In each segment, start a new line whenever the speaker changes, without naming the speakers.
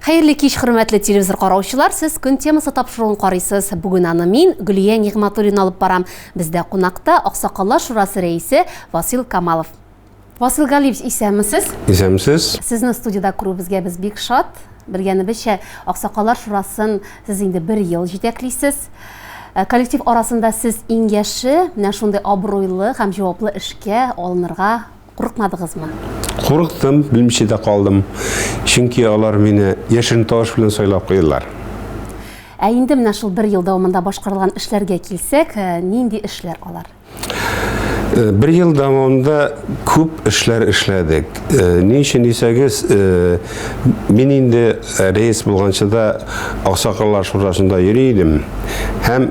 Хәерле кич, хөрмәтле телевизор караучылар. Сез көн темасы тапшыруын карыйсыз. Бүген аны мин Гөлия Нигъматуллина алып барам. Бездә кунакта Аксакаллар шурасы рәисе Васил Камалов. Васил Галиевич, исәнмесез? Исәнмесез.
Сезне студиядә
күрүебезгә без бик шат. Белгәнебезчә, Аксакаллар шурасын сез инде бер ел җитәклисез. Э, коллектив арасында сез иң яше, менә шундый абруйлы һәм җаваплы эшкә алынырга курыкмадыгызмы? Курыктым,
белмичә дә калдым. Чөнки алар мине яшерен тавыш белән сайлап куйдылар. Ә
инде менә шул бер ел дәвамында башкарылган эшләргә килсәк, э, нинди эшләр алар?
Э, бер ел дәвамында күп эшләр эшләдек. Э, ни өчен дисәгез, э, мин инде рейс булганчы да Аксакаллар шурасында йөри идем һәм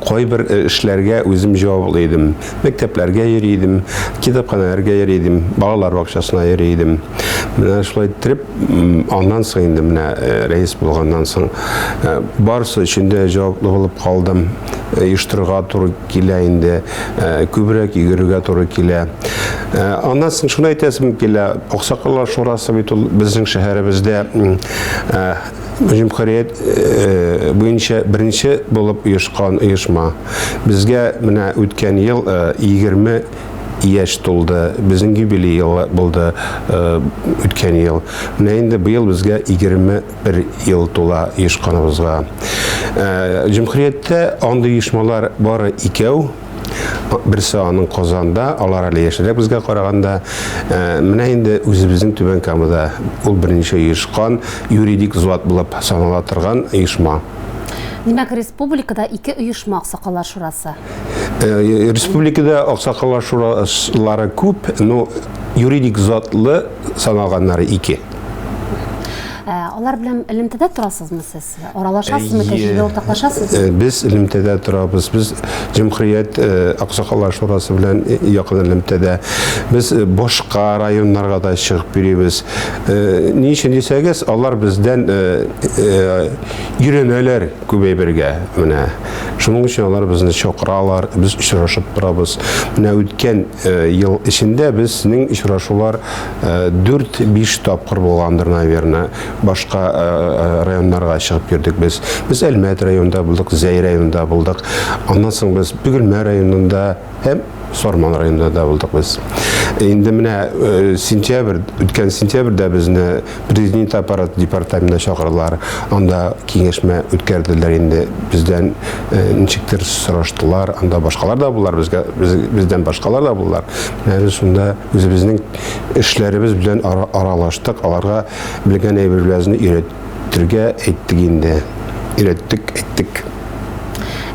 кайбер эшләргә үзем җаваплы идем. Мәктәпләргә йөри идем, китапханәләргә йөри идем, балалар бакчасына йөри идем. Менә шулай итеп, аннан соң инде менә рейс булганнан соң барысы өчен дә җаваплы булып калдым. Оештырырга туры Килә инде, күбрәк йөгерергә туры килә. Аннан соң шуны әйтәсем килә, Аксакаллар шурасы бит ул безнең шәһәребездә җөмһүрият буенча беренче булып оешкан оешма. Безгә менә үткән ел 20 яшь тулды, безнең юбилей елы булды үткән ел. Менә инде быел безгә 20 бер ел тула оешканыбызга. Э, җөмһүрияттә андый оешмалар бары икәү, берсе аның Казанда, алар әле яшерәк безгә караганда. Э, менә инде үзебезнең Түбән Камада ул беренче оешкан, юридик зат булып санала торган оешма. Димәк,
республикада ике оешма аксакаллар шурасы. Э,
республикада аксакаллар шуралары күп, но юридик затлы саналганнары ике.
Ә, алар белән элемтәдә торасызмы сез? Аралашасызмы, тәҗрибә уртаклашасызмы? Без элемтәдә
торабыз. Без җәмгыять аксакаллар шурасы белән якын элемтәдә. Без башка районнарга да чыгып йөрибез. Ни өчен дисәгез, алар бездән өйрәнәләр күп әйбергә. Менә шуның өчен алар безне чакыралар, без очрашып торабыз. Менә үткән ел эчендә безнең очрашулар 4-5 тапкыр булгандыр, наверное. Башка э, э, районнарга чыгып йөрдек без. Без Әлмәт районында булдык, Зәй районында булдык. Аннан соң без Бөгелмә районында һәм Сорман районында да булдык без. Инде менә э, сентябрь, үткән сентябрьдә безне президент аппарат департаментына чакырдылар. Анда киңәшмә үткәрделәр инде. Бездән э, ничектер сораштылар. Анда башкалар да булар, безгә бездән башкалар да булар. Менә шунда Үзебезнең эшләребез белән аралаштык, аларга белгән әйберләрне өйрәтергә әйттек инде. Өйрәттек, әйттек.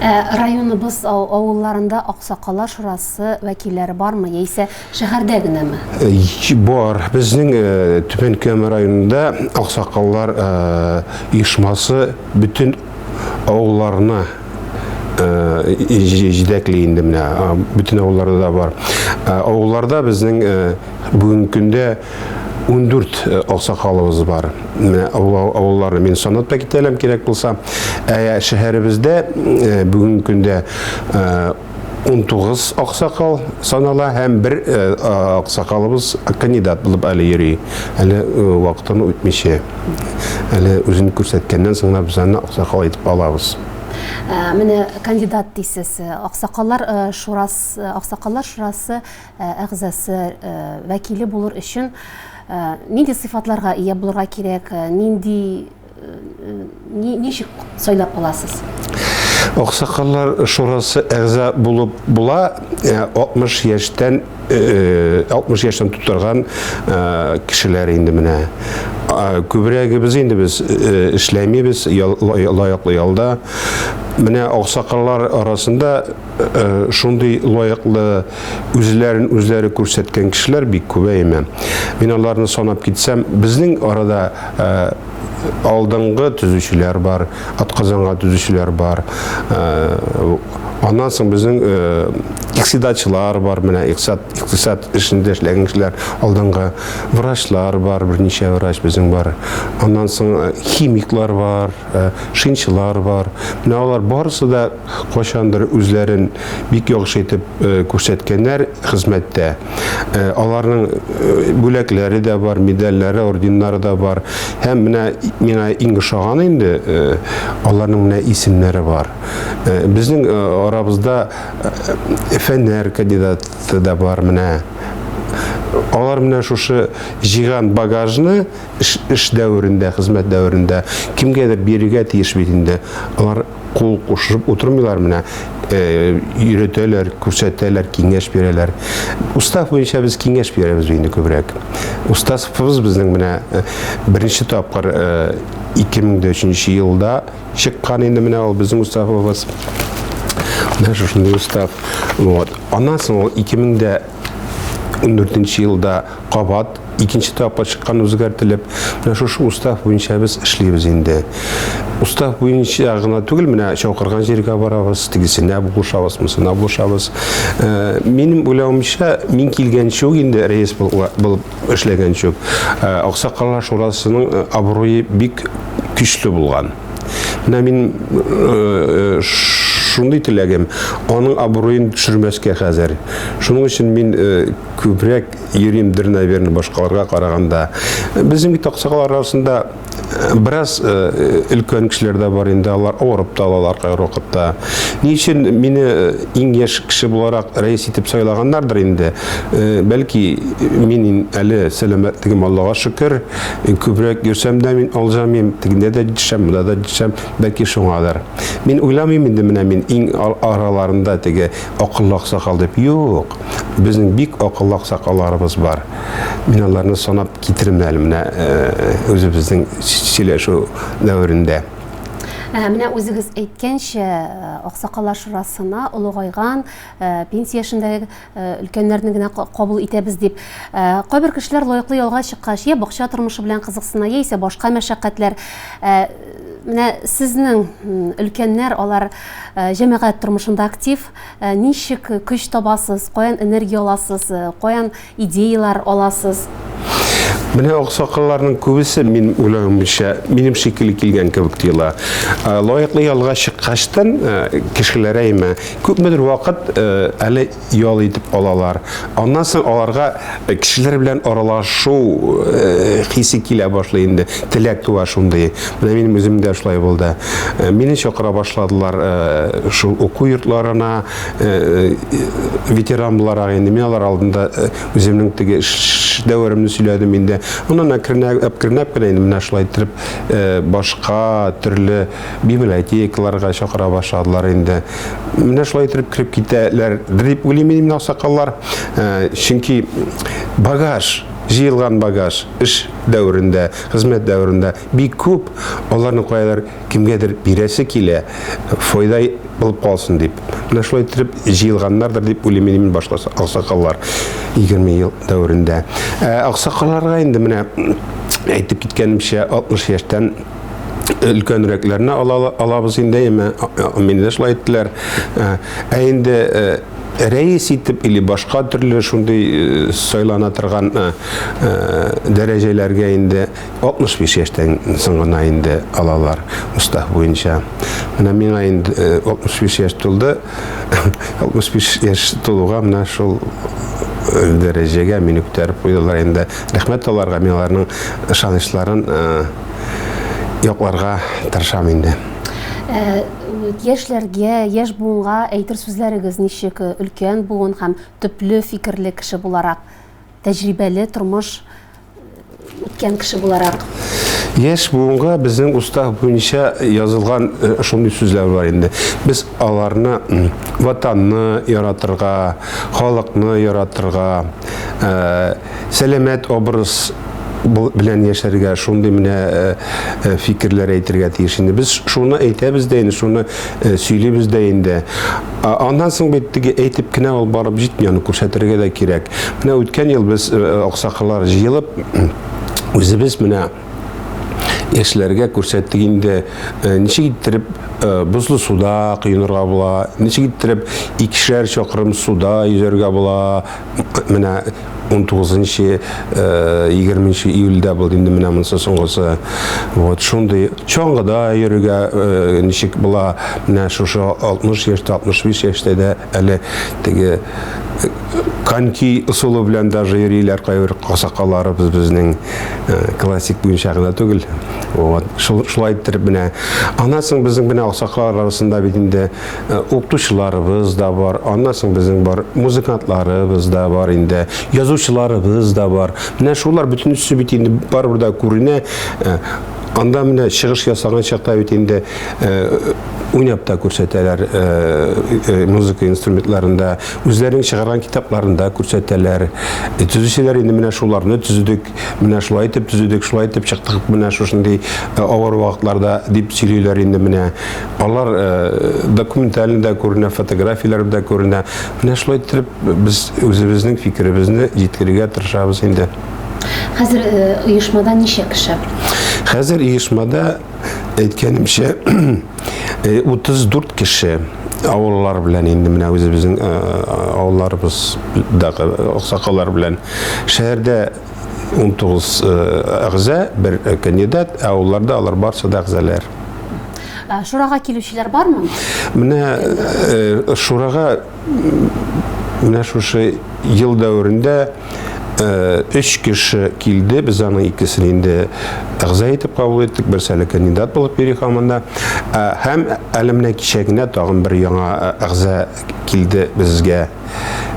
Ә районыбыз
авылларында аксакаллар шурасы вәкилләре бармы, яисә шәһәрдә генәме? Э, бар.
Безнең э, Түбән Кама районында аксакаллар э, оешмасы бөтен авылларны җитәкли инде менә бөтен авылларда да бар авылларда безнең бүгенге көндә 14 аксакалыбыз бар менә авылларны мин санап та китәләм кирәк булса ә шәһәребездә бүгенге көндә 19 аксакал санала һәм бер э, аксакалыбыз кандидат булып әле йөри. Әле э, вакытын үтмичә. Әле үзен күрсәткәннән соң гына без аны аксакал итеп алабыз. Ә, менә
кандидат дисез э, аксакаллар э, шурасы э, аксакаллар шурасы әгъзасы вәкиле булыр өчен нинди сыйфатларга ия булырга кирәк нинди ничек сайлап аласыз? Аксакаллар
шурасы әгъза булып була 60 э, яшьтән 60 э, э, яшьтән тутырган кешеләр инде менә. Күбрәгебез инде без эшләмибез, лаеклы ялда. Менә аксакаллар арасында шундый лаеклы үзләрен үзләре күрсәткән кешеләр бик күбәеме. Мин аларны санап китсәм, безнең арада э, алдыңгы төзүчеләр бар, атказанга төзүчеләр бар. Э, аннан соң безнең э, икътисадчылар бар, менә икътисад икътисад эшендә эшләгән кешеләр алдыңгы врачлар бар, берничә врач безнең бар. Аннан соң химиклар бар, шинчылар бар. Менә алар барысы да кайчандыр үзләрен бик яхшы итеп күрсәткәннәр хезмәттә. Аларның бүләкләре дә бар, медальләре, орденнары да бар. Һәм менә миңа иң ошаганы инде аларның менә исемнәре бар. Безнең арабызда фәннәр кандидаты да бар менә. Алар менә шушы җиган багажны эш дәверендә, хезмәт дәверендә кемгәдер бирергә тиеш бит инде. Алар кул кушып утырмыйлар менә өйрәтәләр күрсәтәләр киңәш бирәләр устав буенча без киңәш бирәбез инде күбрәк уставыбыз безнең менә беренче тапкыр 2003 елда чыккан инде менә ул безнең уставыбыз менә шушындый устав вот аннан соң ул 2000 дә 14 елда кабат икенче тапкыр чыккан үзгәртелеп. Менә шушы устав буенча без эшлибез инде. Устав буенча гына түгел, менә чакырган җиргә барабыз, тегесенә булышабыз, мусына булышабыз. Э, минем уйлавымча, мин килгәнче үк инде рейс булып эшләгәнче үк э, Аксакаллар шурасының э, абруе бик көчле булган. Менә мин шундый теләгем, аның абруен төшермәскә хәзер. Шуның өчен мин күбрәк йөримдер, наверное, башкаларга караганда. Безнең бит аксакалар арасында э, бераз э, өлкән кешеләр дә бар инде, алар авырып та алалар кайгы вакытта. Ни өчен мине э, иң яшь кеше буларак рәис итеп сайлаганнардыр инде. Бәлки мин әле сәламәтлегем Аллага шөкер, күбрәк йөрсәм дә мин алҗамыйм, тегендә дә җитешәм, монда да җитешәм, бәлки шуңадыр. Мин уйламыйм инде менә мин иң араларында теге акыллы аксакал дип. Юк. Безнең бик акыллы аксакалларыбыз бар. Мин аларны санап китермим әле менә үзебезнең сөйләшү дәверендә. Ә,
менә үзегез әйткәнчә, э, аксакаллар шурасына олыгайган, э, пенсия яшендәге э, өлкәннәрне генә кабул итәбез дип, кайбер кешеләр лаеклы ялга чыккач, я бакча тормышы белән кызыксына, яисә башка мәшәкатьләр. Менә сезнең өлкәннәр, алар җәмәгать тормышында актив, Ничек көч табасыз, каян энергия аласыз, каян идеялар аласыз? Менә
аксакалларның күбесе, мин уйлавымча, минем шикелле килгән кебек тоела. Э, лаеклы ялга чыккачтан э, кешеләр әйме, күпмедер вакыт э, әле ял итеп алалар. Аннан соң аларга Ә кешеләр белән аралашу хисе килә башлый инде, теләк туа шундый. Менә минем үзем дә шулай булды. Мине чакыра башладылар шул уку йортларына, ветеран буларак инде мин алар алдында үземнең теге дәверемне сөйләдем инде. Аннан әкренләп, әкренләп кенә инде менә шулай итеп башка төрле Библиотекаларга чакыра башладылар инде. Менә шулай итеп кереп китәләр дип уйлыйм мин аксакаллар. Э, чөнки багаж җыелган багаж эш дәверендә, хезмәт дәверендә бик күп, аларны каядыр кемгәдер бирәсе килә, файда булып калсын дип. Менә шулай итеп җыелганнардыр дип уйлыйм мин башласа аксакаллар 20 ел дәверендә. Ә аксакалларга инде менә әйтеп киткәнемчә 60 яшьтән өлкәнрәкләрне ала, алабыз инде, әмма мине дә шулай иттеләр. Ә инде рәис итеп или башка төрле шундый сайлана торган дәрәҗәләргә инде 65 яшьтән соң гына инде алалар устав буенча. Менә миңа инде 65 яшь тулды. 65 яшь тулуга менә шул дәрәҗәгә мине күтәреп куйдылар инде. Рәхмәт аларга, мин аларның ышанычларын якларга тырышам инде. Ә, яшьләргә,
яшь буынга әйтер сүзләрегез ничек? Өлкән буын һәм төпле фикерле кеше буларак, тәҗрибәле тормыш үткән кеше буларак. Яшь
буынга безнең устав буенча язылган э, шундый сүзләр бар инде. Без аларны ватанны яратырга, халыкны яратырга, э, сәламәт образ белән яшәргә, шундый менә э, э, фикерләр әйтергә тиеш инде. Без шуны әйтәбез дә инде, шуны э, сөйлибез дә инде. Аннан соң бит теге әйтеп кенә ул барып җитми, аны күрсәтергә дә кирәк. Менә үткән ел без аксакалар җыелып үзебез менә яшьләргә күрсәттек инде э, ничек иттереп э, бозлы суда коенырга була ничек иттереп икешәр чакрым суда йөзәргә була менә 19-20 э, июльдә булды инде менә монысы соңгысы. Вот шундый чаңгыда йөрергә э, ничек була? Менә шушы 60 яшьтә, 65 яшьтә дә әле теге э, коньки ысулы белән даже йөриләр кайбер касакаларыбыз безнең классик буенча гына түгел. Вот шулай иттереп менә. Аннан соң безнең менә аксаклар арасында бит инде э, укытучыларыбыз да бар, аннан соң безнең бар музыкантларыбыз да бар инде, язучыларыбыз да бар. Менә шулар бөтенесе бит инде барыбер дә күренә. Э, анда менә чыгыш ясаган чакта бит инде уйнап э, та күрсәтәләр э, э, музыка инструментларында үзләренең чыгарган китапларында күрсәтәләр төзүчеләр инде менә шуларны төзедек менә шулай итеп төзедек шулай итеп чыктык менә шушындый авыр вакытларда дип сөйлиләр инде менә Алар э, документальныйда күренә, фотографияләрдә күренә. Менә шулай иттереп без үзебезнең фикеребезне җиткерергә тырышабыз инде. Хәзер э,
оешмада ничә кеше? Хәзер
оешмада әйткәнемчә 34 кеше авыллар белән инде менә үзебезнең э, авылларыбыздагы аксакаллар белән шәһәрдә 19 әгъза, бер кандидат, ә авылларда алар барсы да әгъзалар. Ә,
Шурага килүчеләр бармы? Менә э,
шурага менә шушы ел дәверендә э, өч кеше килде, без аның икесен инде әгъза итеп кабул иттек, берсе әле кандидат булып йөри хамында. Ә, Һәм әле менә кичә генә тагын бер яңа э, әгъза килде безгә.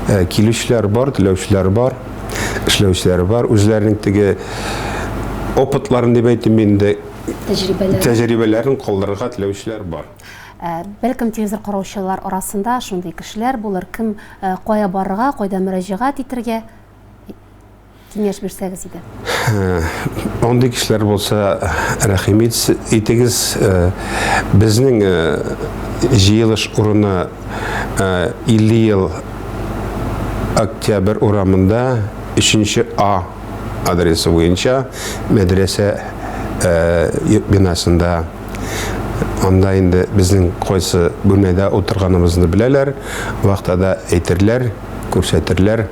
Э, Килүчеләр бар, түләүчеләр бар, эшләүчеләр бар, үзләренең теге опытларын дип әйтим инде тәҗрибәләр. Тәҗрибәләрен калдырырга теләүчеләр бар. Ә, бәлкем
телевизор караучылар арасында шундый кешеләр булыр, кем ә, кая барырга, кайда мөрәҗәгать итергә киңәш бирсәгез иде.
Андый кешеләр булса, рәхим итегез. Безнең җыелыш урыны 50 ел Октябрь урамында 3 А адресы буенча мәдрәсә э, бинасында анда инде безнең кайсы бүлмәдә утырганыбызны беләләр вахтада әйтерләр күрсәтерләр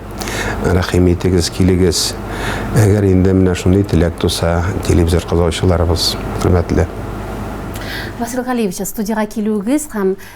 рәхим итегез килегез әгәр инде менә шундый теләк туса телевизор казаучыларыбыз хөрмәтле
Васил Галиевич, студияга килүегез һәм